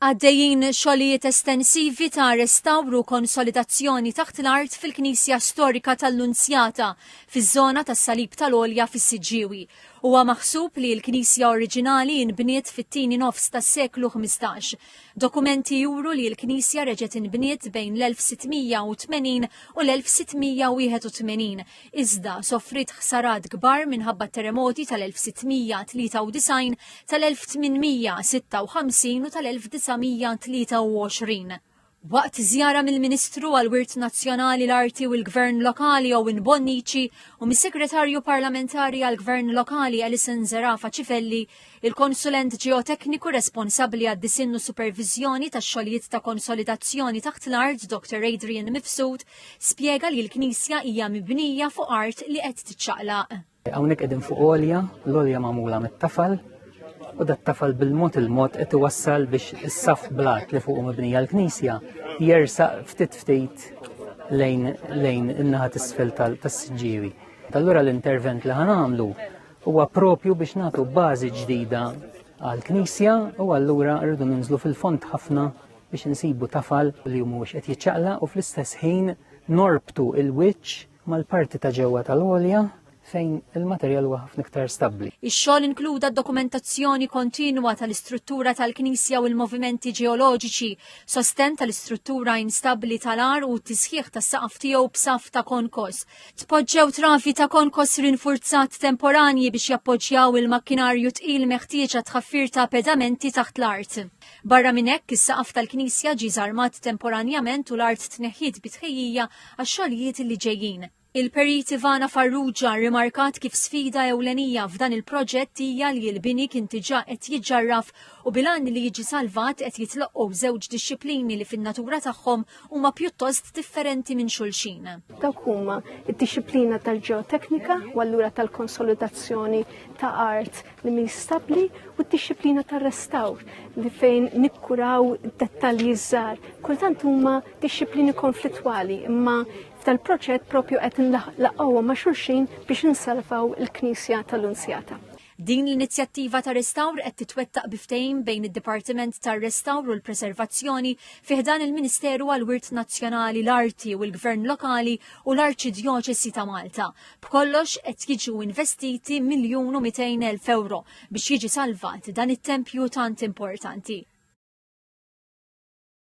Għaddejjin xogħlijiet estensivi ta' restawru u konsolidazzjoni taħt l-art fil-Knisja Storika tal-Nunzjata fiż-żona tas-Salib tal-Għolja fis-Siġġiewi. Huwa maħsub li l-knisja oriġinali inbniet fit-tieni nofs tas-seklu ħmistax. Dokumenti juru li l-knisja reġgħet inbniet bejn l-1680 u l-1681 iżda sofriet ħsarat kbar minħabba t-teremoti tal-1693, tal-1856 u tal-1923. Waqt żjara mill-Ministru għall-Wirt Nazzjonali, l-Arti u l-Gvern Lokali Owen Bonnici u mis-Segretarju Parlamentari għall-Gvern Lokali Alison Zerafa Cifelli, Il-konsulent ġeotekniku responsabbli għad-disinn u superviżjoni tax-xogħlijiet ta' konsolidazzjoni taħt l-art Dr. Adrian Mifsud spjega li l-knisja hija mibnija fuq art li qed tiċċaqlaq. Hawnhekk qegħdin fuq għolja, l-għolja magħmula mit-tafal, u dat-tafal bil-mod il-mod qed iwassal biex is-saf blat li fuq mibnija l-knisja jersaq ftit ftit lejn lejn in-naħa t'isfel tas-siġġiewi. Allura l-intervent li ħanamlu Huwa propju biex nagħtu bażi ġdida għall-Knisja u allura rridu ninżlu fil-fond ħafna biex insibu tafal li mhux qed jiċċaqla u fl-istess ħin norbtu il-wiċċ mal-parti ta' ġewwa tal-għolja fejn il-materjal huwa ħafna iktar stabbli. Ix-xogħol inkluda dokumentazzjoni kontinwa tal-istruttura tal-Knisja u l-movimenti ġeoloġiċi, sosten tal-istruttura instabbli tal-ar u t-tisħiħ tas-saqaf tiegħu b'saf ta' konkos, Tpoġġew travi ta' konkos rinfurzat temporanji biex jappoġġjaw il-makkinarju tqil meħtieġ għat tħaffir ta' pedamenti taħt l-art. Barra minn hekk, is-saqaf tal-knisja ġie żarmat temporanjament u l-art tneħħiet bi tħejjija għax-xogħlijiet li ġejjin. Il-Perit Ivana Farrugia rrimarkat kif sfida ewlenija f'dan il-proġett hija li l-bini kien diġà qed jiġġarraf u bil-għan li jiġi salvat qed jitloqqgħu żewġ dixxiplini li fin-natura tagħhom huma pjuttost differenti minn xulxin. Dawk huma d-dixxiplina tal-ġeoteknika u allura tal-konsolidazzjoni ta' art li mhi stabbli u d-dixxiplina tar-restawr li fejn nikkuraw dettalji żgħar. Kultant huma dixxiplini konflittwali imma tal-proġett propju qed nlaqgħu ma' xulxin biex insalvaw il-Knisja tal-Unzjata. Din l-inizjattiva ta' restawr qed titwettaq bi ftehim bejn id-Dipartiment tar-Restawr u l-Preservazzjoni fi ħdan il-Ministeru għall-Wirt Nazzjonali, l-Arti u l-Gvern Lokali u l-Arċidjoċesi ta' Malta. B'kollox qed jiġu investiti miljun u mitejn elf ewro biex jiġi salvat dan it-tempju tant importanti.